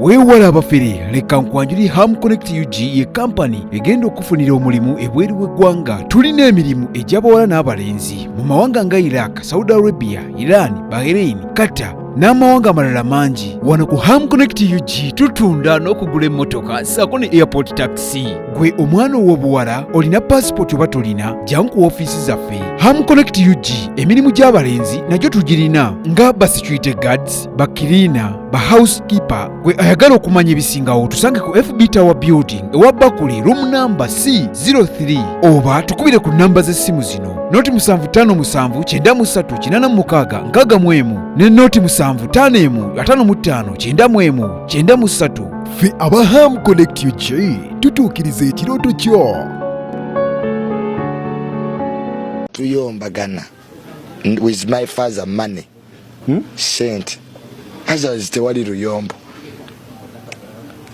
weewala abafere leka nkwanjuli ham connect ug ye kampani egenda okufunira omulimu ebweru w'eggwanga tulina emirimu egy'abawala n'abalenzi mu mawanga nga iraq saudi arabia iran bahrain qatar n'amawanga amalala mangi wano ku ham connect ug tutunda n'okugula emmotoka saako ne airport taxi gwe omwana ow'obuwala olina paasipooti oba tolina jangu ku ofiisi zaffe ham connect ug emirimu gy'abalenzi nagyo tugirina nga basecurity guards bakiriina ba housekeeper gwe ayagala okumanya ebisingawo tusange ku fb tower building ewa bakuli room namba c 03 oba tukubire ku namba z'essimu zino noti 755386 ne noti 75539593 ffe aba ham connect ug tutuukiriza ekirooto kyo tuyombagana with my father money hmm? sente azazi tewali luyombo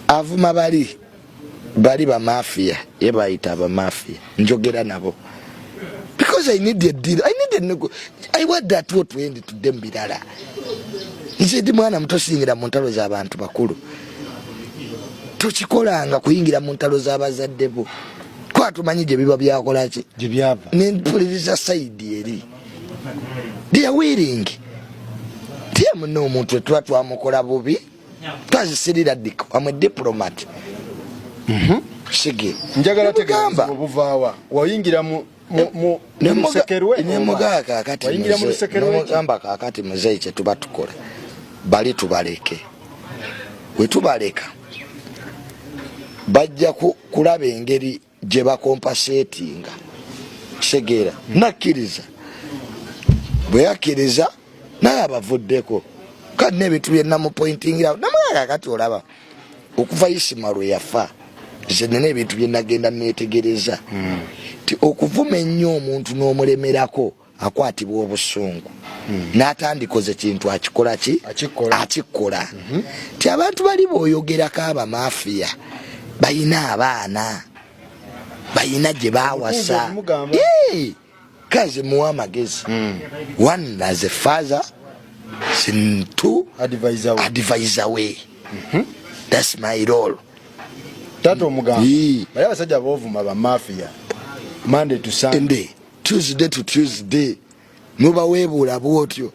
avuma bali bali bamafiya ye bayita abamafiya njogera nabo because i need a deal i need a nego i want that what we end to them birala nze ndi mwana muto singira mu ntalo z'abantu bakulu tokikolanga kuyingira mu ntalo z'abazadde bo twatumanyi gye biba byakolaki gye byava nempuliriza sayidi eri they are willing tiye muna omuntu etuba twamukola bubi twazisirira dik amwe diplomat mhm. sige njagala tegamba obuvawa wayingira mu nemugamba kakati muzeyi kyetuba tukola bali tubaleke wetubaleka bajja kulaba engeri gye bakompaseetinga kitegeera nakkiriza bwe yakkiriza naye abavuddeko kati n'ebintu bye namupointingirawo namwega kati olaba okuva isima lwe yafa nze nina ebintu bye nagenda neetegereza hmm. ti okuvuma ennyo omuntu n'omulemerako akwatibwa obusungu hmm. natandikoze kintu akikola ki akikola hmm. ti abantu bali boyogerako abamafiya bayina abaana bayina gye bawasa kazi muwa amagezi hmm. one as a father sintu advisor we mhm. that's my role tato omugamba bali abasajja bovuma bamafiya monday to sunday tuesday to tuesday nobawebuula bwotyo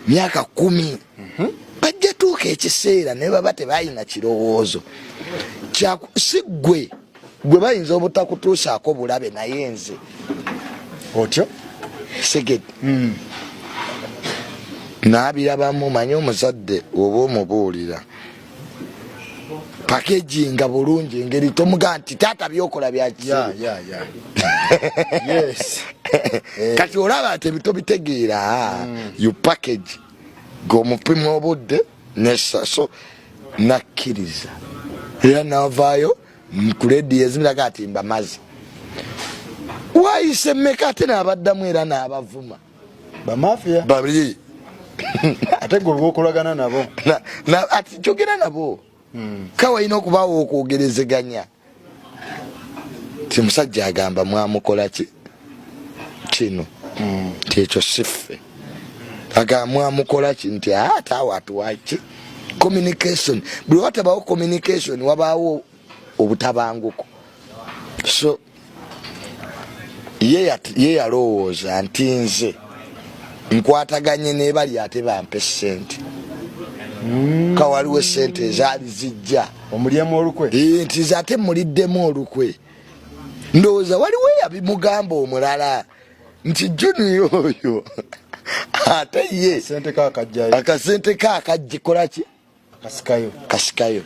myaka kumi mhm. bajja tuuka ekiseera naye baba tebalina kirowoozo si gwe gwe bayinza obutakutuusaako bulabe naye nze otyo seged hmm. nabirabamu manye omuzadde oba omubuulira packaging nga bulungi engeri tomuga nti taata byokola byakisiru kati olaba nti ebito bitegeera mm. you package gomupima obudde nesaso nakkiriza era navaayo nkulediyo ezimiraga ati mbamazi wayise meka ate naabaddamu era naabavuma bamafia babiri ate gwe okolagana nabo ati kyogera nabo hmm. kawa olina okubaawo okwogerezeganya ti musajja agamba mwamukola ki kino hmm. nti ekyo siffe agamba mwamukola ki nti ate awo atuwaki communication buli watabawo communication wabaawo obutabanguko so ye yalowooza nti nze nkwataganye nebali ate bampe sente hmm. ka waliwo esente ezaali zijja omulyemu olukwe nti ze ate muliddemu olukwe ndowooza waliwo eyabimugamba omulala nti juniya oyo ate ye akasente ke akajjikolaki kasikayo kasikayo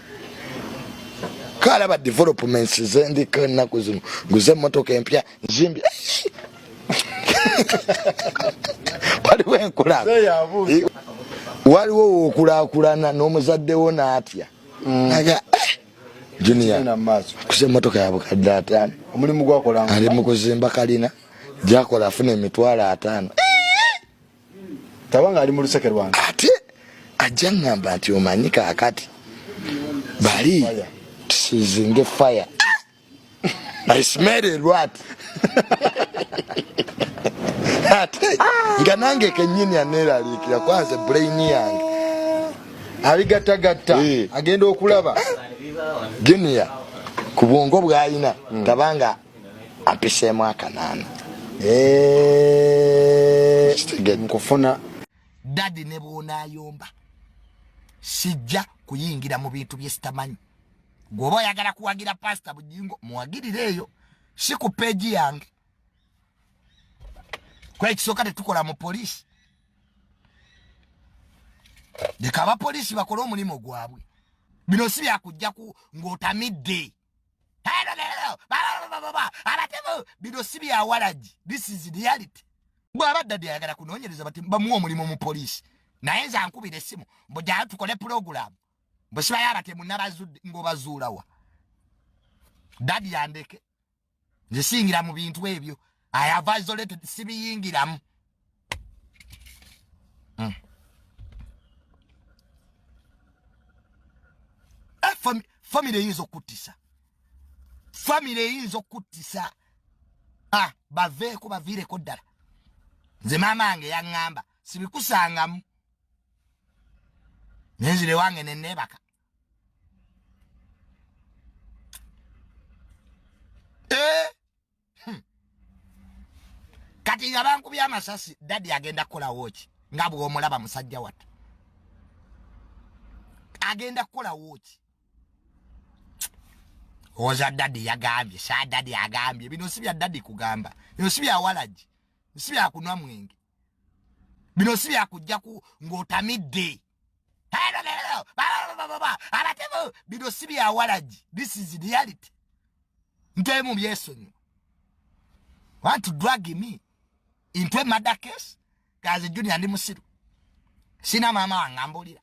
kalaba developments zendiko ennaku zino nguze emmotoka empya nzimbi waliwo enkulaba waliwo wokulakulana n'omuzadde wo n'atya mm. aga eh, junia kusa emmotoka yabukadde ataano ali mu kuzimba kalina gyakola afuna emitwalo ataano tabanga ali mu luseke lwange ate ajja ngamba nti omanyi kakati bali tusizinge fire I smell a rat ate nga nange kenyini aneraliikira kwanze brain yange abigattagatta eh. agenda okulaba junior ku bwongo bwalina hmm. tabanga ampiseemu akanaana nkufuna dadi ne bwonayomba sijja kuyingira mu bintu bye sitamanyi gwoba oyagala kuwagira pasita bujingo muwagirire eyo si ku peegi yange kwekisooka tetukola mu poliisi leka abapoliisi bakole omulimu gwabwe bino si byakujjaku ng'otamidde abatemu bino si byawalagi this is reality bwaba dadi ayagala kunonyereza bati bamuwa omulimu mu poliisi naye nze ankubira essimu mbu jaa tukole pulogulaamu bwesibayo abatemu nabazudde ngaobazuulawa dadi yandeke nze siyingira mu bintu ebyo i have isolated sibiyingiramu mm. eh, famire eyinza okuttisa famire eyinza okuttisa ah, baveeko baviireko ddala nze maama wange yaŋŋamba sibikusangamu nenzire wange neneebaka eh? hmm. kati nga bankubye amasasi dadi agenda kukolawo ki nga bwomulaba musajja watu agenda kukolawo ki oza dadi yagambye sa dadi agambye bino si bya dadi kugamba bino si bya walagi si bya kunwa mwenge bino si byakujjaku ng'otamidde abatemu bino si byawalagi this is reality ntemu byesonyiwa want to drag me into a murder case kaze junior ndi musiru sina maama wange ambulira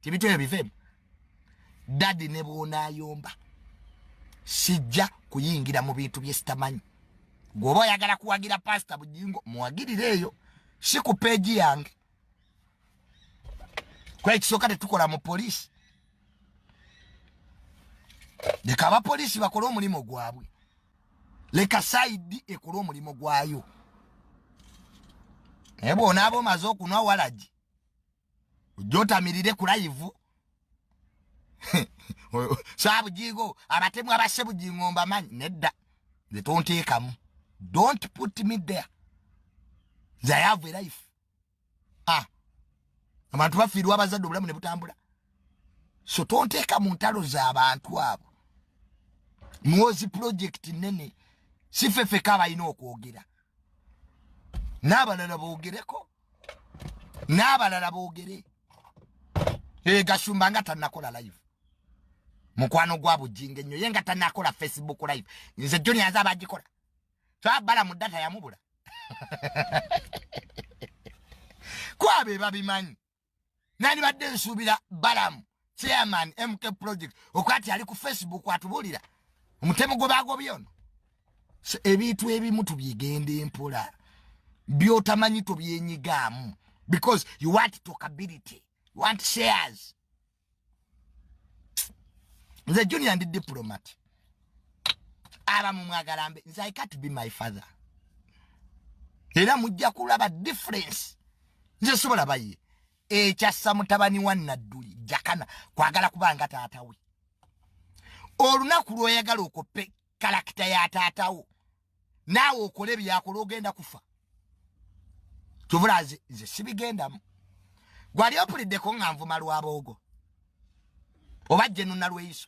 tibintu ebyo biveemu dadi ne bwonaayomba sijja kuyingira mu bintu bye sitamanyi gweoba oyagala kuwagira pasita bujingo muwagirire eyo si ku peegi yange kwekisooka tetukola mu poliisi leka abapoliisi bakole omulimu gwabwe leka saidi ekole omulimu gwayo naye bwonaaba omaze okunwa walagi jotamirire ku live sabujigo abatemu abase bujingo mbamanyi nedda nze tonteekamu don't put me there nze i have a life ah abantu bafiirwa abazadde obulamu ne butambula so tonteeka mu ntalo z'abantu abo mwozi project nene sifefeka abalina okwogera n'abalala boogereko n'abalala boogere ee gashumba nga tanakola live mukwano gwa bujinga ennyo ye nga tanakola facebook live nze joni aze abagikola twabala mu data yamubula kwabe babimanyi nandibadde nsuubira balamu chairman mk project okwati ali ku facebook atubulira omutemu gwe bagobye ono so ebintu ebimu tubyegenda empola byotamanyi tobyenyigaamu because you want talkability you want shares nze junior ndi diplomat aba mumwagala mbe nze i can't be my father era mujja kulaba difference nze sobola baye ekyassa mutabani wa nadduli jakana kwagala kubanga taata we olunaku lwoyagala okope kalakita ya taata wo naawe okole byakola ogenda kufa kyovula nze nze sibigendamu gwali opuliddeko nga nvuma lwaboogo oba jenunalweyiso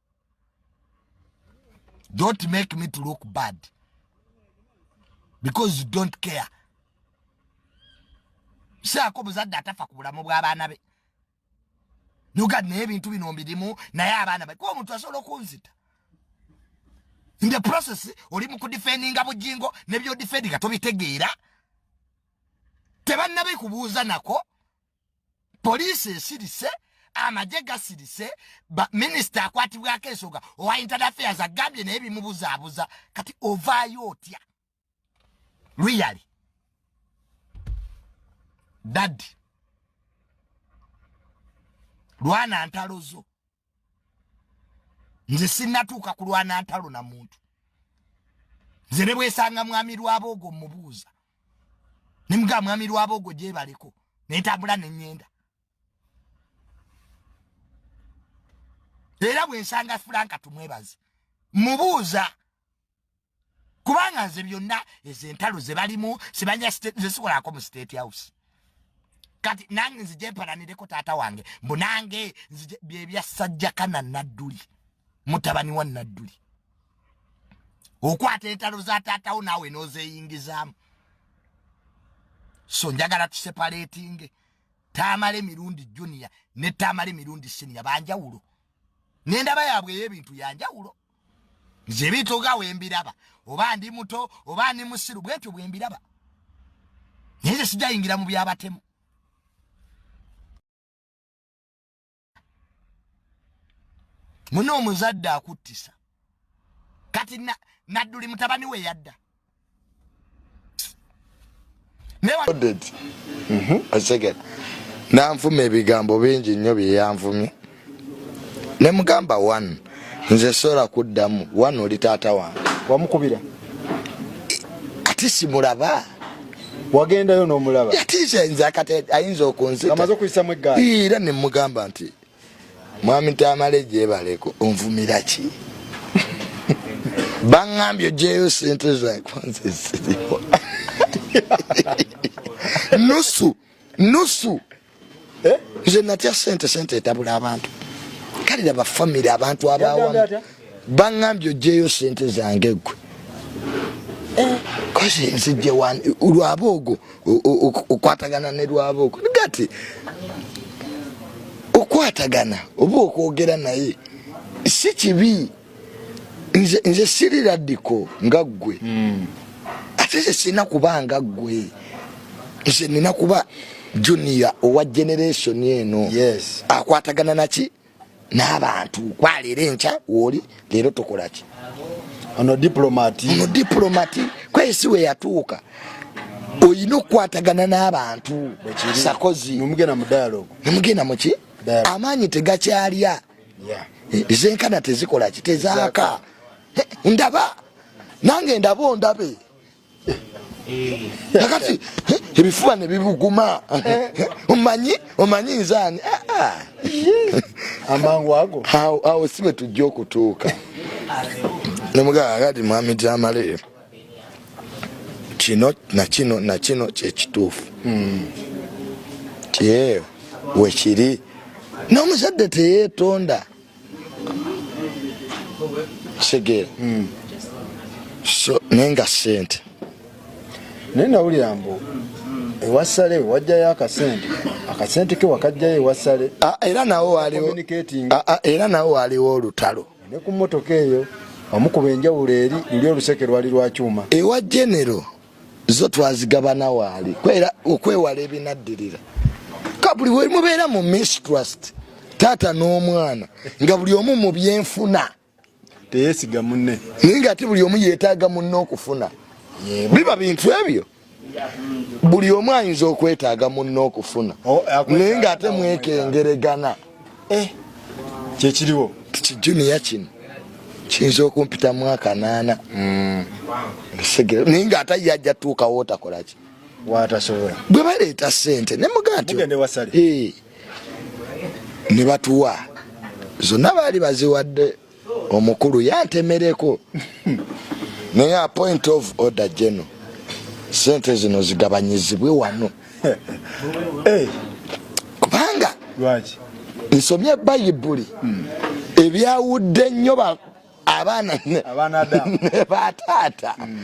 don't make me to look bad because you don't care saako muzadde atafa ku bulamu bw'abaana be nogad naye ebintu bino mbirimu naye abaana be kuba omuntu asobola okunzita in the process oli mu kudifendinga bujingo nebyodifendinga tobitegeera tebannabekubuuza nako poliisi esirise amagye gasirise minisita akwatibwako ensonga owa intan affairs agambye naye bimubuzaabuza kati ovaayo otya luyali daddi lwana ntalo zo nze sinnatuuka kulwana ntalo na muntu nze ne bwesanga mwami lwaboogo mubuuza ne mugaa mwami lwaboogo gyebaleko nentambula nenyenda era bwensanga fulanka tumwebaze mubuuza kubanga nze byonna ezo entalo ze balimu sibanya nze sikolako mu state house kati nange nzije mpalanireko taata wange mbu nange nzije byebyasajjakana nadduli mutabani wa nadduli okwata entalo za taatawo naawe n'ozeyingizaamu so njagala tusepaletinge taamala emirundi junior ne taamala emirundi siniya banjawulo nendaba yaabwe ey'ebintu yanjawulo ya nze bintu nga wembiraba oba ndi muto oba ndi musiru bwentyo bwembiraba naye nze sijayingira mu byabatemu mune omuzadde akuttisa kati nadduli mutabani we yadda Mhm. nanfuma ebigambo bingi nnyo byeyanvumye ne mugamba one nze sola kuddamu one oli taata wange wamukubira ati simulaba wagendayo nomulaba ati nze ayinza okunzitaera nemugamba nti mwami tamale jebaleko onvumira ki bangambye ojeyo sente zakwanzeziriwa nusu nusu eh? nze natya sente sente etabula abantu kale laba famire abantu abawamu bangambye ojeeyo sente zange gwe eh, kozi nzijje wani lwaba ogwo okwatagana ne lwaba ogwo gati okukwatagana oba okwogera naye si kibi nze, nze siri radiko nga ggwe mm. ate nze sirina kuba nga ggwe nze nina kuba junior owa generation eno yes. akwatagana naki n'abantu kwaleero enkya wooli leero tukola ki ono diplomati ono diplomati kwesi we yatuuka olina okukwatagana n'abantu sakozi nemugenda mu dialogue nemugenda muki amaanyi tegakyalya zenkana tezikolaki tezaaka ndaba nange ndaba ondabe kakati ebifuba ne bibuguma omanyi omanyi nzaani ah, ah. amangu ago awo si bwe tujja okutuuka nomugaa kati mwami jamale kino nakino nakino kyekituufu hmm. tye wekiri n'omuzadde teyeetonda kitegeera hmm. so naye nga sente naye nawulira mbu ewasale wajjayo akasente akasente ke wakajjayo ewasale ah, era nawo waliwo ah, ah, era nawo waliwo olutalo ne ku mmotoka eyo omukuba enjawulo eri luli oluseke lwali lwakyuma ewa genero zo twazigabana waali kwera okwewala ebinaddirira ka buli we mubeera mu mistrust taata n'omwana nga buli omu mu byenfuna teyesiga munne naye nga ate buli omu yeetaaga munne okufuna biba bintu ebyo buli omu ayinza okwetaaga munne okufuna oh, naye nga ate mwekengeregana eh kyekiriwo kiti junior kino kiyinza okumpita mwaka naana mm. segera naye nga ate ye ajja tuukawo otakolaki watasobola bwe baleeta sente ne muga nti eh. ne batuwa zonna baali baziwadde omukulu yantemereko naye a point of order geno sente zino zigabanyizibwe wano eh. kubanga nsomye bayibuli hmm. ebyawudde nnyo abaana ne bataata hmm.